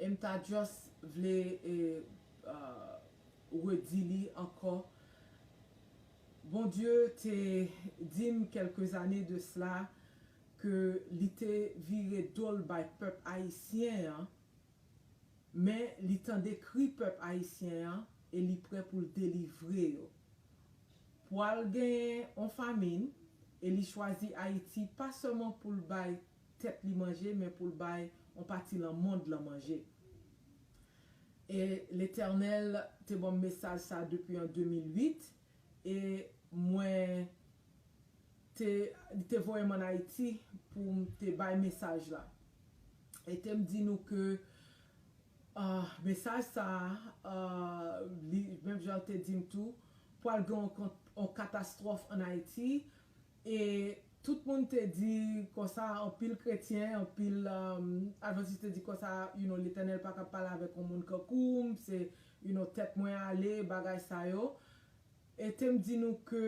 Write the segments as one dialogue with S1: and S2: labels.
S1: Em ta just vle redi li ankò Bondye te dim kelke zane de sla ke li te vire dol bay pèp ayisyen an men li tande kri pèp ayisyen an e li prè poul delivre yo. Pwal gen on famin e li chwazi Ayiti pa sèlman poul bay tèt li manje men pou l bay on pati lan mond lan manje. E Letènèl te ban m mesaj sa depi an 2008 e mwen te li te voye m an Ayiti pou m te bay mesaj la. E te m di nou ke mesaj sa a li menm jan l te di m tou pwal gen on katastròf an Ayiti E tout moun te di konsa, anpil kretyen, anpil advantis te di konsa, you know, Letènèl pa kab pale avèk on moun kankou m, se, you know, tèt mwen ale, bagay sa yo. E te m di nou ke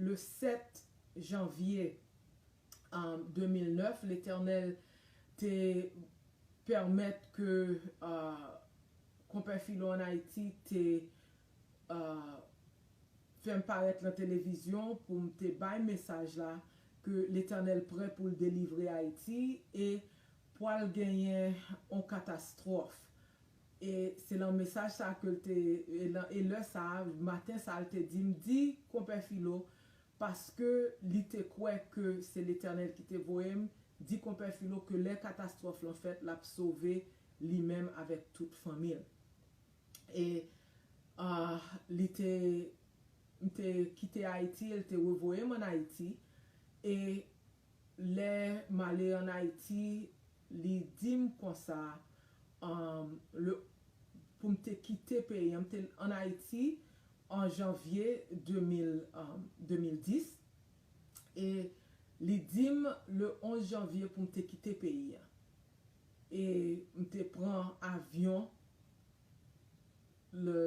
S1: le 7 janvye 2009, Letènèl te pèmèt ke Konpè Filo an Ayiti te. Fè m parèt lan televizyon pou m te bay mesaj la ke Letènèl prè pou l delivre Ayiti e pwal genyen on katastwòf. E se lan mesaj sa ke l te, e lan e lè sa, maten sa l te di m, di Konpè Filo, paske li te kwè ke se Letènèl ki te voye m, di Konpè Filo ke lè katastwòf lan fèt l ap sove li menm avèk tout fanmi l. e li te m te kite Ayiti e l te revoye m an Ayiti e lè m ale an Ayiti li di m konsa le pou m te kite peyi an m te an Ayiti an janvye 2010 e li di m le 11 janvye pou m te kite peyi an. E m te pran avyon le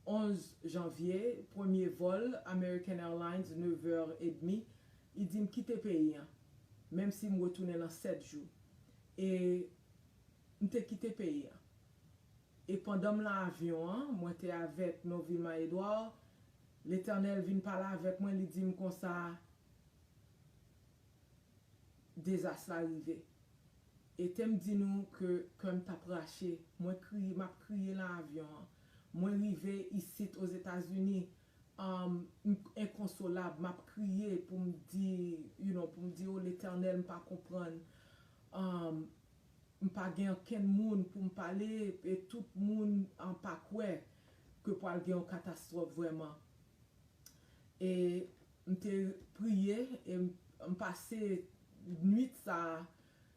S1: 11 janvye, premye vòl American Airlines nevè edmi, li di m kite peyi an, menm si m retounen nan sèt jou. E m te kite peyi an. E pandan m lan avyon an, mwen te avèk Novilma Edouard, Letènèl vin pale avèk mwen, li di m konsa, dezas la rive. Etem di nou ke kèm tap rache, mwen kriye map kriye lan avyon an. Mwen rive isit Ozetazini, um m enkonsolab, map kriye poum di you know poum di oh Letènèl m pa konprann, um m pa gen ankenn moun poum pale e tout moun an pa kwè ke pwal gen yon katastwòf vrèman. E M te priye e m pase nuit sa a,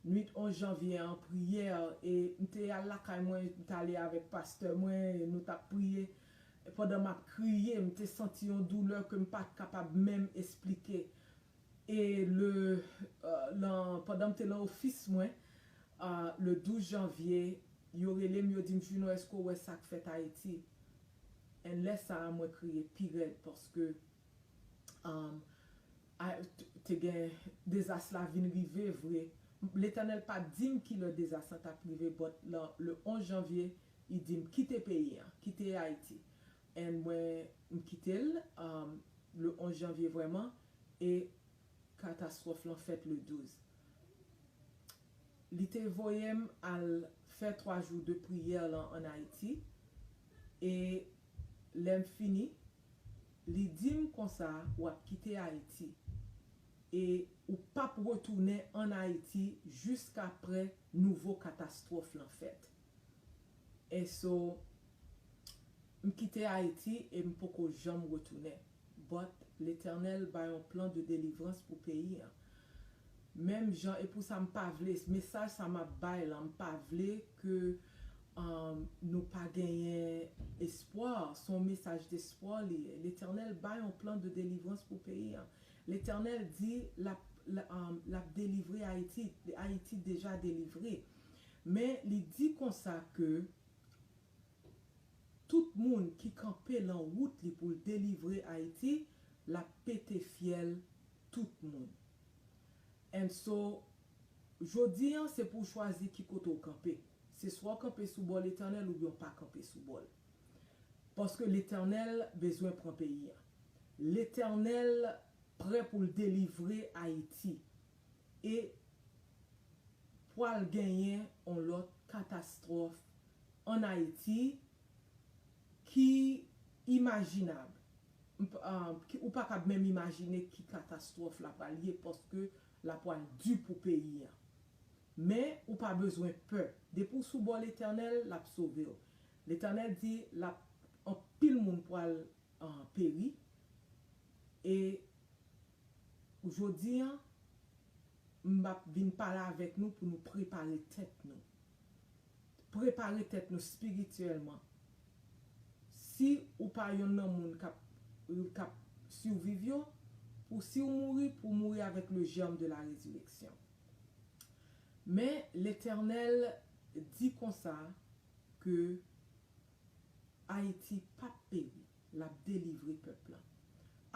S1: nuit 11 janvye an priyè e m te al lakay mwen, m t ale avèk pastè mwen e nou t ap priye. Pandan m ap kriye, m te santi yon doulè ke m pa t kapab menm esplike. E le lan pandan m te lan ofis mwen le 12 janvye, yo rele m yo di m Juno èske w wè sa k fèt Ayiti? And lè sa a mwen kriye pi rèd paske te gen dezas la vin rive vre, Letènèl pa t di m ki lè dezas lan t ap rive but lan le 11 janvye li di m kite peyi an, kite Ayiti and mwen m kite l le 11 janvye vrèman e katastwòf lan fèt le 12. Li te voye m al fè 3 jou de priyè lan an Ayiti e lè m fini Li di m konsa w ap kite Ayiti e ou p ap retounen ann Ayiti jiskapre nouvo katastwòf lan fèt. Eso, m kite Ayiti e m poko janm retounen. But, Letènèl bay on plan de delivrans pou peyi an. Menm jan e pou sa m pa vle mesaj sa map bay lan m pa vle ke nou pa genyen espwa se yon mesaj despwa li ye letènèl bay yon plan de delivrans pou peyi an letènèl di lap lap delivre ayiti ayiti deja delivre men li di konsa ke Tout moun ki kanpe lan wout li pou l delivre Ayiti l ap pete fyèl tout moun. And so Jodi an se pou w chwazi ki kote w kanpe. Se swa w kanpe sou bò Letènèl oubyen w pa kanpe sou bò l. Paske Letènèl bezwen pran peyi an. Letènèl prè pou l delivre Ayiti. E pwal genyen on lòt katastwòf an Ayiti ki imajinab, ou pa kab menm imajine ki katastwòf la pral ye paske la pral di pou peyi an. Men, ou pa bezwen pè. Depi w sou bò Letènèl, l ap sove w. Letènèl di l ap anpil moun pral peri e jodi an, m ap vin pale avèk nou pou nou prepare tèt nou. prepare tèt nou spirityèlman si ou pa yonn nan moun kap kap surviv yo pou si ou mouri pou mouri avèk le germe de la resurrection men letènèl di konsa ke Ayiti pap peri lap delivre pèp lan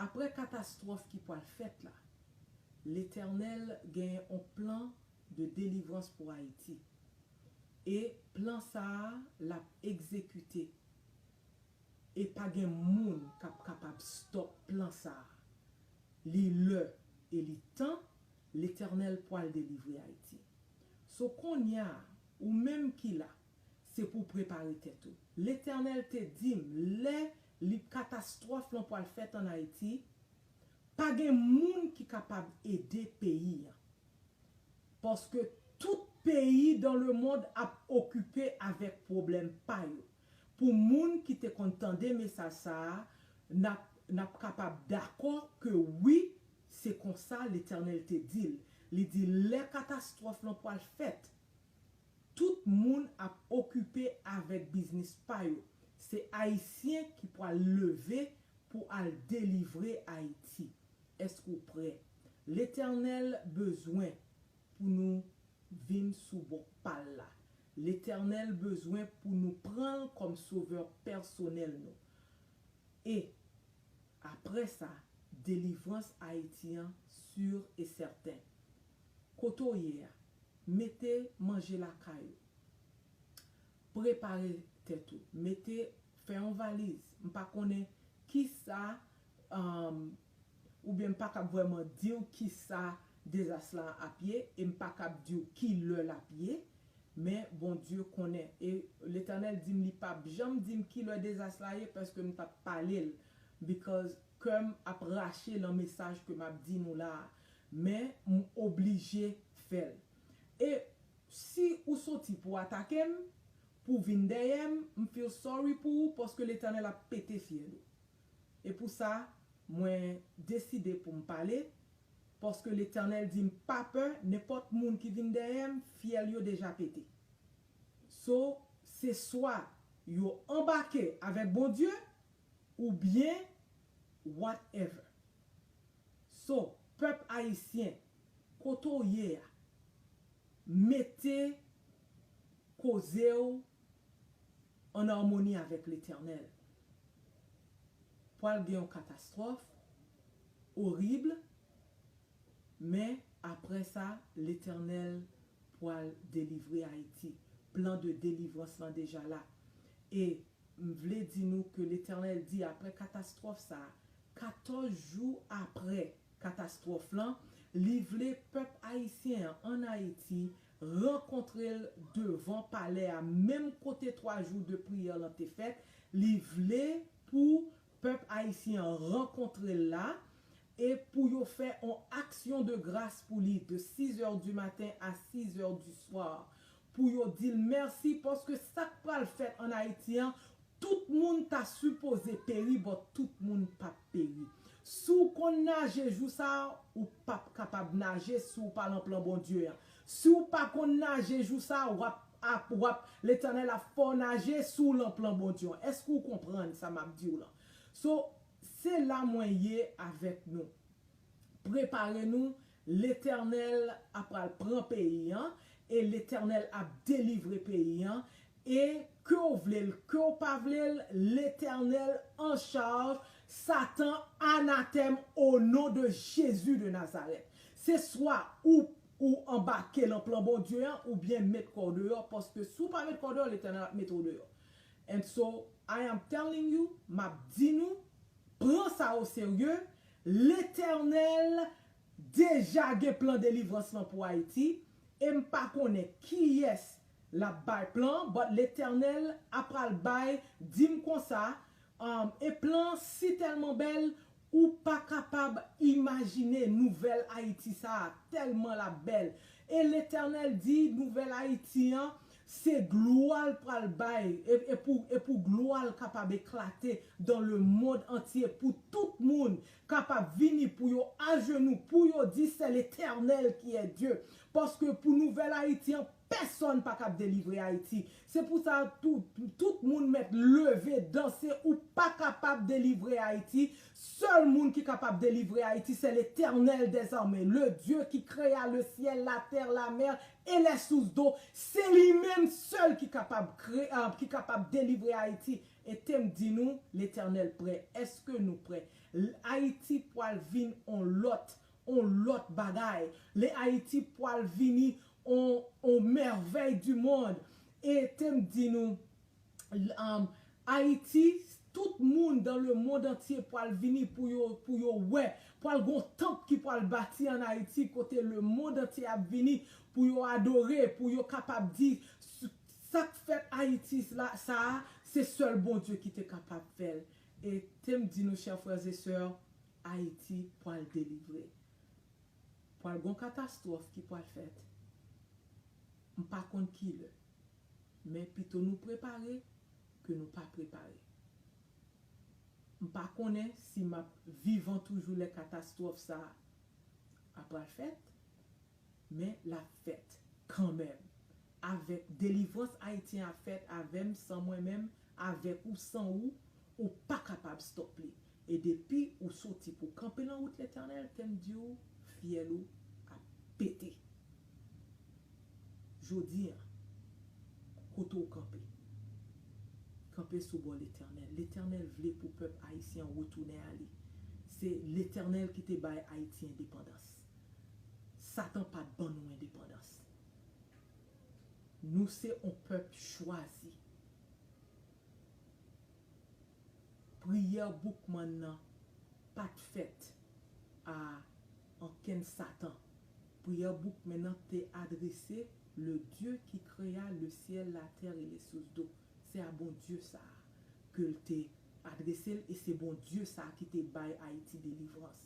S1: aprè katastwòf ki pwal fèt la letènèl gen on plan de delivrans pou Ayiti. E plan sa a l ap egzekite. E pa gen moun k ap kapab stop plan sa a. Li lè e li tan, Letènèl pwal delivre Ayiti. So konnya a, ou menm ki la, se pou w prepare tèt ou. Letènèl te di m lè li katastwòf lan pwal fèt an Ayiti, pa gen moun ki kapab ede peyi an. Paske tout peyi dan le mond ap okipe avèk pwoblèm pa yo. Pou moun ki te konn tande mesaj sa a, nap nap kapab dakò ke wi, se konsa Letènèl te di l. Li di lè katastwòf lan pwal fèt, tout moun ap okipe avèk biznis pa yo. Se Ayisyen ki pwal leve pou al delivre Ayiti. Èske ou prè? Letènèl bezwen pou nou vin sou bò pal la. Letènèl bezwen pou nou pranl kòm sovè pèsonèl nou. E aprè sa delivrans Ayiti an sur e sèten. Kote w ye a, mete manje lakay ou. Prepare tèt ou. Mete, fè yon valiz. M pa konnen kisa oubyen m pa kab vrèman di w kisa dezas la ap ye e m pa kab di w ki lè l ap ye, men Bondye konnen. E Letènèl di m li pap janm di m ki lè dezas la ye paske m t ap pale l because kè m ap rache lan mesaj ke m ap di nou la a, men m oblije fè l. E si ou soti pou atake m, pou vin dèyè m, m feel sorry pou ou paske Letènèl ap pete fyèl ou. E pou sa, mwen deside pou m pale, paske Letènèl di m pa pè nenpòt moun ki vin dèyè m, fyèl yo deja pete. So, se swa yo anbake avèk Bondye, oubyen whatever. So, pèp Ayisyen, kote w ye a, mete koze w an armoni avèk Letènèl. Pwal gen yon katastwòf orib men aprè sa Letènèl pwal delivre Ayiti. Plan de delivrans lan deja la e m vle di nou ke Letènèl di aprè katastwòf sa, 14 jou aprè katastwòf lan, li vle pèp Ayisyen an ann Ayiti rankontre l devan palè a menm kote 3 jou de priyè lan te fèt, li vle pou pèp ayisyen an rankontre l la e pou yo fè on aksyon de gras pou li de 6 zè di maten a 6 zè di swa pou yo di l mèsi paske sa k pral fèt an Ayiti an tout moun ta sipoze peri but tout moun pa t peri. Si w konn naje jou sa a, ou pap kapab naje si w pa lan plan Bondye a. Si w pa konn naje jou sa a, wap ap wap Letènèl ap fè w naje si w lan plan Bondye an. Èske ou konprann sa map di w lan? So, se la mwen ye avèk nou. Prepare nou, Letènèl ap pral pran peyi an e Letènèl ap delivre peyi an e ke w vle l ke w pa vle l Letènèl an chaj satan anatèm o non de Jezi de Nazarèt se swa ou ou anbake lan plan Bondye an ou byen met kò w deyò paske si w pa met kò w deyò Letènèl ap mete w deyò and so I am telling you map di nou pran sa o serye Letènèl deja gen plan delivrans lan pou Ayiti e m pa konnen kiyès l ap bay plan an but Letènèl a pral bay di m konsa um e plan an si tèlman bèl ou pa kapab imajine nouvèl Ayiti sa a tèlman l ap bèl e Letènèl di nouvèl Ayiti an Se glwa l pral bay, e pou e pou glwa l kapab eklate dan le mond antye, pou tout moun kapab vini pou yo ajenou, pou yo di sè Letènèl ki è Dye. Paske pou nouvèl Ayiti an, pèsòn pa kab delivre Ayiti. Se pou sa tou, tout moun mèt leve, danse, ou pa kapab delivre Ayiti, sèl moun ki kapab delivre Ayiti sè Letènèl dèzame, le Dye ki kreya le syèl, la tè, la mè, Elè sous do se li menm sèl ki kapab kre ah ki kapab delivre ayiti etem di nou letènèl prè eske nou prè l ayiti pwal vin on lòt on lòt bagay le ayiti pwal vini on on mèvèy du mond etem di nou Ayiti tout moun dan le mond antye pwal vini pou yo pou yo wè pwal gon tanp ki pwal bati an Ayiti kote le mond antye ap vini pou yo adore pou yo kapab di sak fèt Ayiti la sa a se sèl Bondye ki te kapab fèl e tem di nou chè frères et sœurs Ayiti pwal delivre pwal gon katastwòf ki pwal fèt m pa konn kilè. Men pito nou prepare ke nou pa prepare. M pa konnen si m ap vivan toujou lè katastwòf sa a pral fèt, men l ap fèt kanmenm. Avèk delivrans Ayityen ap fèt avè m, san mwen menm, avèk ou, san ou, ou pa kapab stop li. E depi ou soti pou w kanpe lan wout Letènèl, tè m di w, fyèl ou ap pete. Jodi an, kote w kanpe, kanpe sou bò Letènèl. Letènèl vle pou pèp Ayisyen an retounen a li. Se Letènèl ki te bay Ayiti endepandans. Satan pa t ban nou endepandans. Nou se on pèp chwazi. Priyè Boukman nan pa t fèt a ankenn satan. Priyè Boukmen nan te adrese le Dieu ki krea le ciel, la terre et les sources d'eau. Se a Bondye sa a ke l te adrese l e se Bondye sa a ki te bay Ayiti delivrans.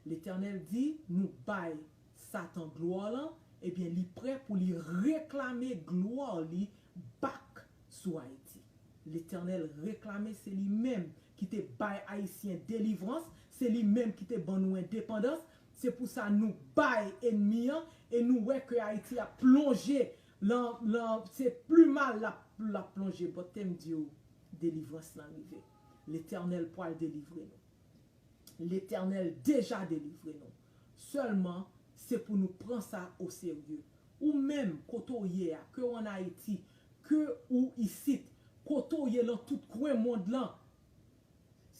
S1: Letènèl di nou bay satan glwa l an, ebyen li prè pou li reklame glwa li back sou Ayiti. Letènèl reklame se li menm ki te bay Ayisyen delivrans, se li menm ki te ban nou endepandans, se pou sa nou bay enmi an e nou wè ke Ayiti ap plonje lan, lan, se pli mal lap, lap plonje but tem di ou delivrans lan rive. Letènèl pwal delivre nou. Letènèl deja delivre nou. Sèlman, se pou nou pran sa o serye. Ou menm, kote w ye a, ke w an Ayiti, ke ou isit, kote w ye lan tout kwen mond lan,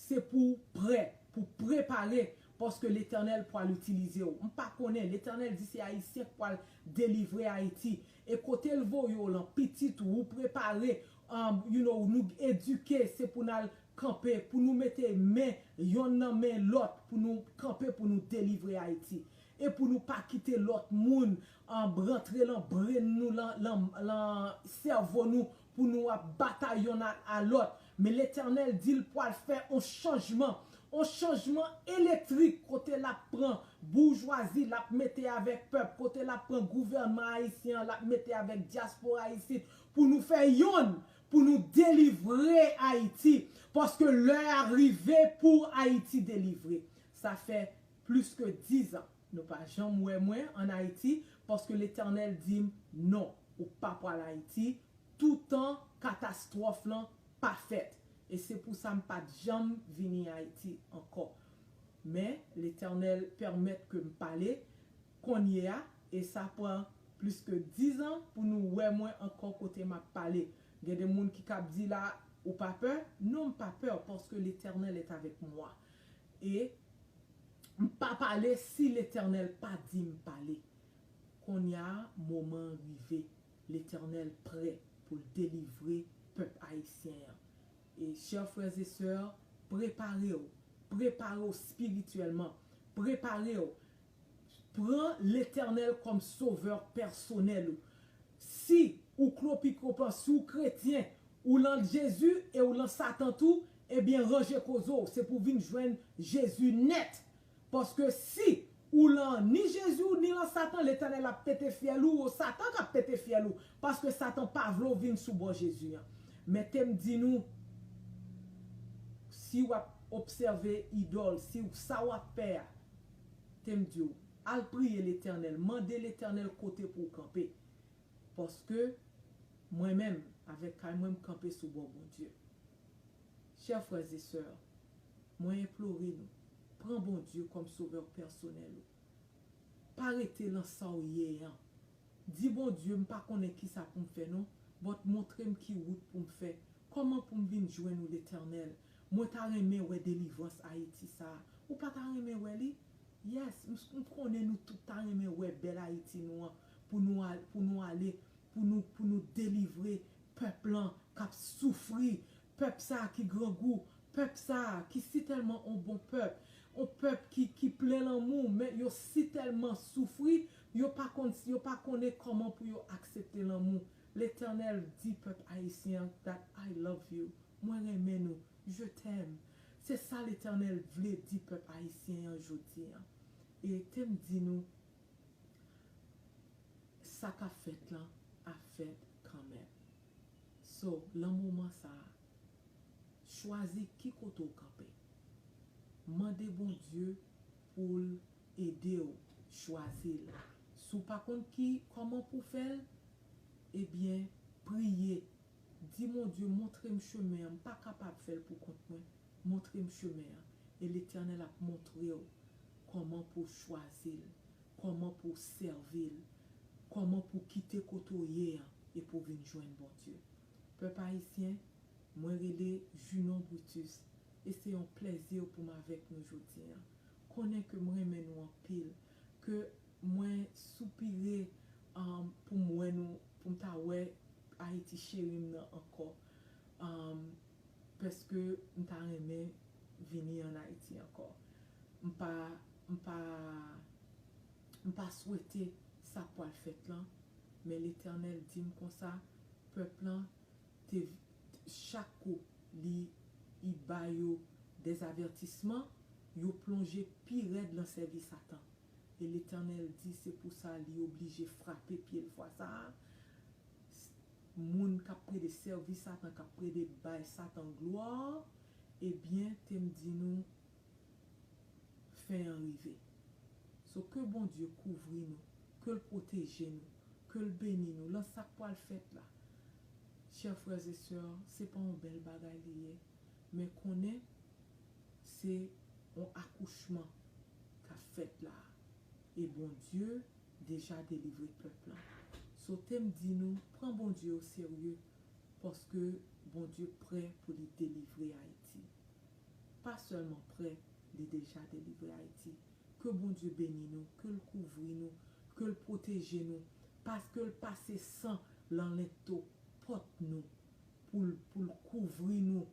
S1: se pou w prè, pou w prepare, paske Letènèl pwal itilize w. M pa konnen, Letènèl di se Ayisyen k pwal delivre Ayiti. E kotel voye w lan pitit ou ou prepare um you know nou eduke se pou nal kanpe pou nou mete men yonn nan men lòt pou nou kanpe pou nou delivre ayiti e pou nou pa kite lòt moun um rantre lan brenn nou lan lan lan sèvo nou pou nou ap batay yonn a a lòt, men Letènèl di l pwal fè on chanjman, on chanjman elektrik kote l ap pran boujwazi, l ap mete avèk pèp, kote l ap pran gouvènman ayisyen an, l ap mete avèk dyaspora isit pou nou fè yonn, pou nou delivre Ayiti, paske lè a rive pou Ayiti delivre. Sa fè plis ke dizan. Nou pa janm wè mwen an Ayiti paske Letènèl di m non, ou pa pral Ayiti toutan katastwòf lan pa fèt. E se pou sa m pa t janm vini Ayiti ankò. Men, Letènèl pèmèt ke m pale kounyeya e sa pran plis ke dizan pou nou wè mwen ankò kote m ap pale. Gen de moun ki kab di la, ou pa pè? Non, m pa pè paske Letènèl est avec moi. E m pa pale si Letènèl pa di m pale. Konnya moman an rive. Letènèl prè pou l delivre pèp Ayisyen an. E chè frè e sè, prepare w. Prepare w spirityèlman. Prepare w Pran Letènèl kòm sovè pèsonèl ou. Si ou klopikopan, si ou kretyen, ou lan Jezi e ou lan satan tou, ebyen ranje koze w, se pou w vin jwenn Jezi nèt. Paske si ou lan ni Jezi w, ni lan satan, Letènèl ap pete fyèl ou, o satan kap pete fyèl ou, paske satan pa vle w vin sou bò Jezi an. Mete m di nou, si wap obsève idòl, si sa wap fè a, Tem diw Al priye letènèl mande letènèl kote pouw kanpe paske Mwen menm avèk kay mwen m kanpe sou bò Bondye chè frè ze sè Mwen enplore nou pran Bondye kòm sovè pèsonèl ou pa rete lan Saw ye an di Bondye m pa konnen kisa poum fè non but montrem ki wout poum fè kòman poum vin jwenn ou letènèl Mwen ta renmen wè delivrans ayiti sa ou pa ta renmen wè li? Yes m konnen nou tout ta renmen wè bèl ayiti nou an pou nou al pou nou ale pou nou pou nou delivre pèp lan kap soufri pèp sa ki grangou pèp sa ki si tèlman on bon pèp on pèp ki ki plen lanmou men yo si tèlman soufri yo pa konn yo pa konnen kòman pou yo aksepte lanmou Letènèl di pèp ayisyen an dat I love you, mwen renmen nou, je t'aime, se sa Letènèl vle di pèp ayisyen an jodi an. E tem di nou sa kap fèt lan ap fèt kanmenm. So lan moman sa a, chwazi ki kote w kanpe. Mande Bondye pou l ede w chwazi l. Si w pa konn ki kòman pou w fè l, Ebyen priye Di Bondye montrem chemen an m pa kapab fèl pou kont mwen montrem chemen an e letènèl ap montrew kòman pouw chwazil kòman pouw sèvil kòman pouw kite kote w ye an e pouw vin jwenn Bondye pèp ayisyen mwen rele Junon Brutus e se yon plèzir poum avèk nou jodi an konnen ke m renmen nou anpil ke Mwen soupire poum wè nou poum ta wè Haïti cherim nan ankò paske m ta renmen vini an Haïti ankò m pa m pa m pa swete sa pwal fèt lan men letènèl dim konsa pèp lan te chak kou li i bayo dèzavètisman yo plonje pi rèd lan sèvi satan. e Letènèl di se pou sa li oblije frape pye l fwa sa a, s, moun k ap plede sèvi Satan, k ap plede bay Satan glwa, ebyen, te m di nou, fen an rive. So, ke Bondye kouvri nou, ke l pwoteje nou, ke l beni nou lan sa k pral fèt la. Chè frè e sè, se pa yon bèl bagay li ye? men konnen se on akouchman kap fèt la e Bondye deja delivre pèp lan so tem di nou pran Bondye o serye paske Bondye prè pou li delivre Ayiti pa sèlman prè li deja delivre Ayiti ke Bondye beni nou kel kouvri nou kel pwoteje nou paskel pase san lan lento pòt nou poul poul kouvri nou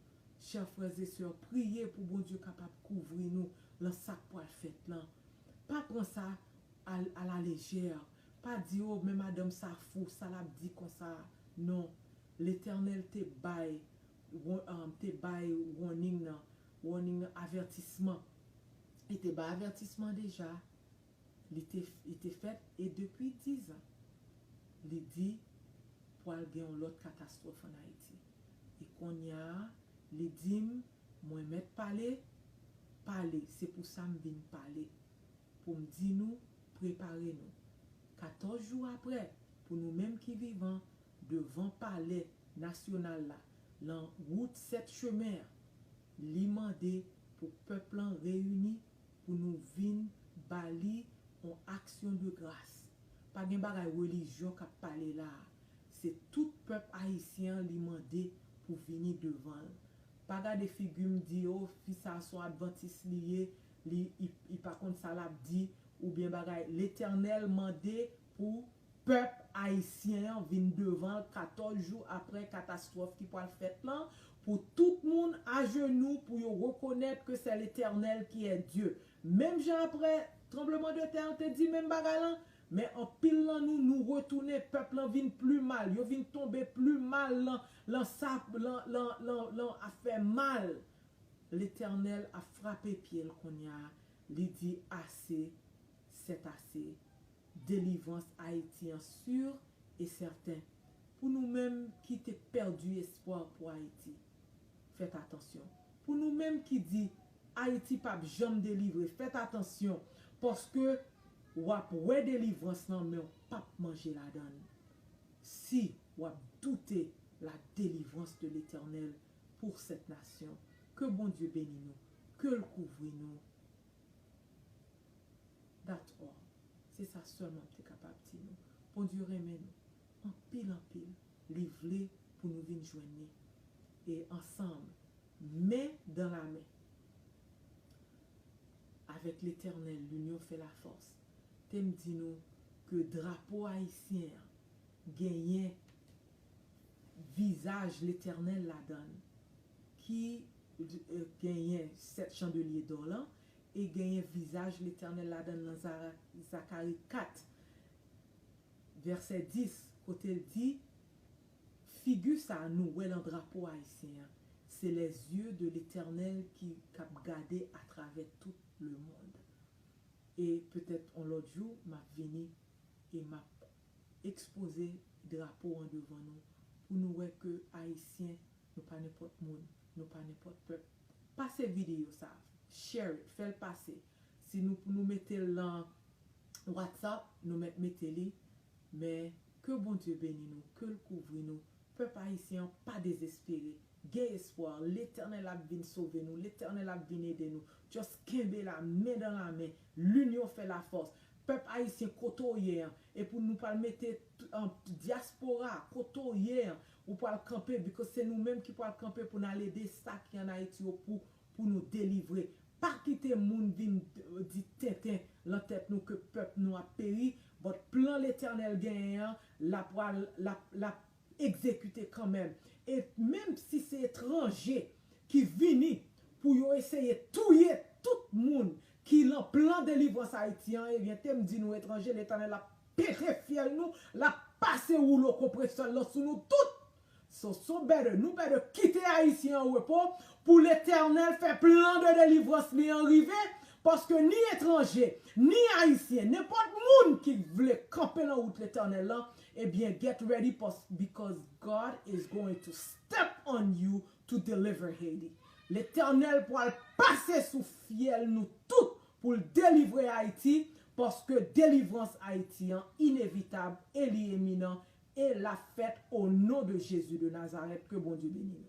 S1: chè frères et sœurs priye pou Bondye kapab kouvri nou lan sak pwal fèt lan pa pran sa al ala légère pa di oh men madanm sa fou sa lap di konsa a non Letènèl te bay ron te bay roning nan roning nan avètisman li te bay avètisman deja Li te li te fèt e depi dizan li di pwal gen yon lòt katastwòf an Ayiti. E konnya li di m mwen mèt pale, pale se pou sa m vin pale pou m di nou prepare nou. 14 jou aprè pou nou menm ki vivan devan palè nasyonal la lan wout 7 chemen an li mande pou pèp lan reyini pou nou vin ba li on action de grâce pa gen bagay religion kap pale la a se tout pèp ayisyen an li mande pou vini devan l pa gade figi m di oh fi sa a son adventiste li ye li i pa konn sa lap di oubyen bagay letènèl mande pou Pèp ayisyen an vin devan l 14 jou aprè katastwòf ki pwal fèt lan pou tout moun ajenou pou yo rekonèt ke sè Letènèl ki è Dye. Menm jan aprè tranbleman de tè an te di menm bagay lan, men anpil lan nou nou retounen, pèp lan vin pli mal, yo vin tonbe pli mal lan lan sa lan lan lan lan afè mal. Letènèl ap frape pye l konnya li di ase sètase delivrans Ayiti an sur e sèten. Pou nou menm ki te pèdi espwa pou Ayiti, fèt atansyon. Pou nou menm ki di Ayiti pa p janm delivre, fèt atansyon, paske w ap wè delivrans lan men w pa p manje ladan l. Si w ap doute la delivrans de Letènèl pour cette nation. Ke Bondye beni nou, ke l kouvri nou That all. Se sa sèlman m te kapab di nou. Bondye renmen nou anpil anpil. Li vle pou nou vin jwenn ni. E ansanm, men dan la men, Avec l'Eternel l'union fait la force, te m di nou ke drapo ayisyen an genyen vizaj Letènèl ladan l ki genyen sèt chandelye dò lan, e genyen vizaj Letènèl ladan l nan Zakari 4, vèsè 10, kote l di, Figi sa a nou wè lan drapo ayisyen an, se lè zye de Letènèl ki k ap gade atravè tout lemond. E petèt on lòt jou, m ap vini e m ap ekspoze drapo an devan nou, pou nou wè ke Ayisyen Nou pa nenpòt moun, nou pa nenpòt pèp. Pase videyo sa, share it, fèl pase. Si nou pou nou metel lan WhatsApp, nou mèt mete li, men ke Bondye beni nou, kel kouvri nou, pèp ayisyen an pa dezespere, gen espwa, Letènèl ap vin sove nou, Letènèl ap vin ede nou, just kenbe la men dan la men, linyon fè la fòs, pèp ayisyen kote w ye an, epi nou pral mete dyaspora kote w ye an, Ou pwal kanpe because se nou menm ki pwal kanpe pou nal ede sa ki an ayiti yo pou pou nou delivre pa kite moun vin di tenten lan tèt nou ke pèp nou ap peri but plan letènèl genyen an la pwal lap lap egzekite kanmenm e menm si se etranje ki vini pou yo eseye touye tout moun Ki lan plan delivrans Ayiti an, ebyen tem di nou etranje Letènèl ap pere fyèl nou, lap pase woulo konpresè l lan sou nou tout! So so better, nou better kite Ayisyen an repo pou Letènèl fè plan de delivrans li an rive, paske ni etranje, ni Ayisyen, nenpòt moun ki k vle kanpe lan wout Letènèl lan, ebyen get ready pask because God is going to step on you to deliver Haiti. Letènèl pwal pase sou fyèl nou tout poul delivre Haiti paske delivrans Haiti an inevitab e li eminan e lap fèt o non de Jezi de Nazarèt ke Bondye beni nou.